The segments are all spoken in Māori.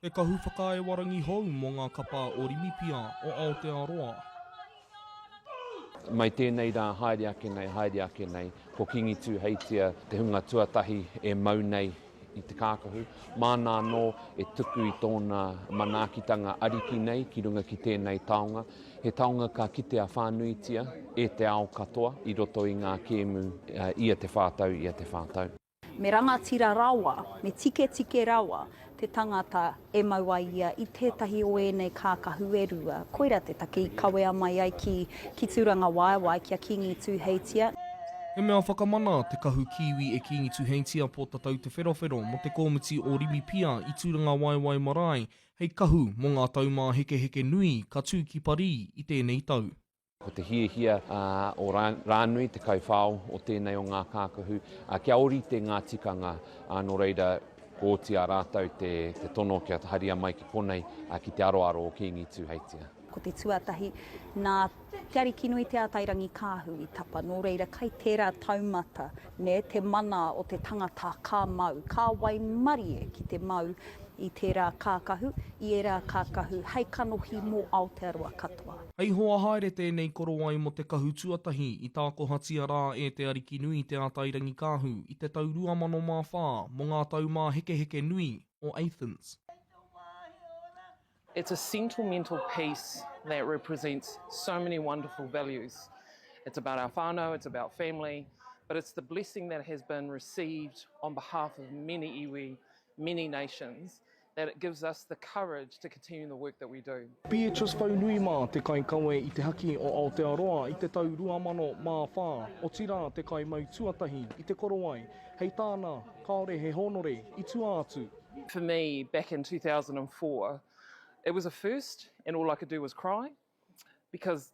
He kahu whakaae warangi hou mō ngā kapa o Rimipia, o Aotearoa. Mai tēnei rā haere ake nei, haere ake nei, ko Kingi Tūheitia te hunga tuatahi e mau nei i te kākahu. Māna anō e tuku i tōna manaakitanga ariki nei ki runga ki tēnei taonga. He taonga ka kitea whānuitia e te ao katoa i roto i ngā kēmu ia te whā tau, ia te whā tau. Me rangatira rawa, me tiketike rawa te tangata e mau ai ia i tētahi o ēnei kākahu e rua. Koira te take i kawea mai ai ki, ki Tūrangawaewae, ki a Kīngi Tūheitia. He mea whakamana te kahu kīwi e Kīngi Tūheitia Pōtatau Te Wherowhero mō te kōmiti o Rimipia i Tūrangawaewae marae Hei kahu mō ngā taumāhekeheke nui ka tū ki Parī i tēnei tau. Ko te hiahia o Rānui, te kaiwhao o tēnei o ngā kākahu, kia ōrite ngā tikanga, nō reira, ko Otiā rātou te tono kia haria mai ki konei ki te aroaro o Kīngi Tūheitia. Ko te tuatahi, nā Te Arikinui Te Atairangikaahu i tapa, nō reira kai tērā taumata nē te mana o te tangata ka mau, ka waimarie ki te mau i tērā kākahu, i ērā kākahu hei kanohi mō Aotearoa katoa. Hei hoa haere tēnei korowai mō te kahu tuatahi i tākohatia rā e Te Arikinui Te Atairangikaahu i te tau 2004 mō ngā taumāhekeheke nui o Athens. It's a sentimental piece that represents so many wonderful values. It's about our whānau, it's about family, but it's the blessing that has been received on behalf of many iwi, many nations, that it gives us the courage to continue the work that we do. Beatrice Faunui mā te kaikawe i te haki o Aotearoa i te tau 2004, otirā te kaimautūatahi i te korowai, hei tāna, kāore he hōnore i tua atu. For me, back in 2004, it was a first, and all I could do was cry because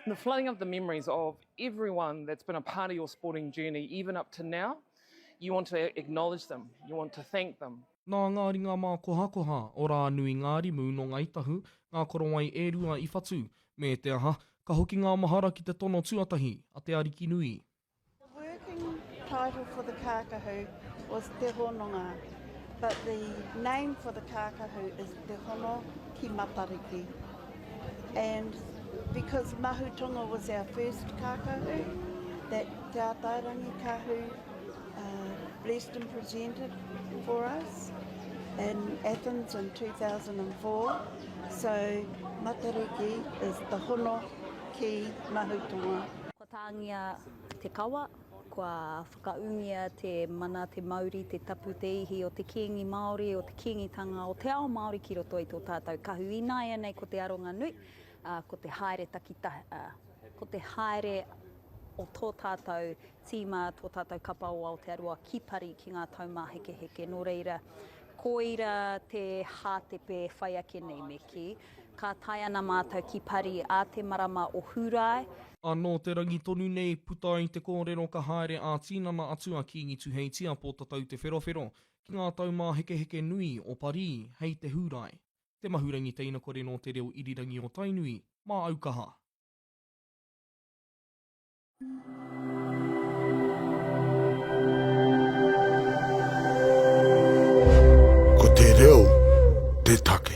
the flooding of the memories of everyone that's been a part of your sporting journey, even up to now, you want to acknowledge them, you want to thank them. Nā ngā ringa mākohakoha o Rānui-ngārimu nō Ngāi Tahu, ngā korowai e rua i whatu, me te aha, ka hoki ngā mahara ki te tono tuatahi a te Arikinui. working title for the kākahu was Te Hononga, but the name for the kākahu is Te Hono ki Matariki. And because Mahutonga was our first kākahu, that Te Atairangi Kahu uh, blessed and presented for us, in Athens in 2004. So Matariki is the hono ki Mahutonga. Tāngia te kawa, kua whakaūngia te mana, te mauri, te tapu, te ihi o te Kīngi Māori, o te Kīngitanga, o te ao Māori ki roto i tō tātou kahu. Ināianei ko te aronga nui, ko te haere takitahi, ko te haere o tō tātou tīma, tō tātou kapa o Aotearoa ki Parī ki ngā taumāhekeheke. Nō reira, koira te hātepe whai ake nei me kī. Ka tae ana mātou ki Pari ā te marama o Hūrae. Anō te rangi tonu nei, puta ai te kōrero ka haere ā-tinana atu a Kīngi Tuheitia Pōtatau Te Wherowhero ki ngā taumāhekeheke nui o Parī hei te Hūrae, te mahurangi teinakore nō te reo irirangi o Tainui, mā Aukaha. Ko te reo te take.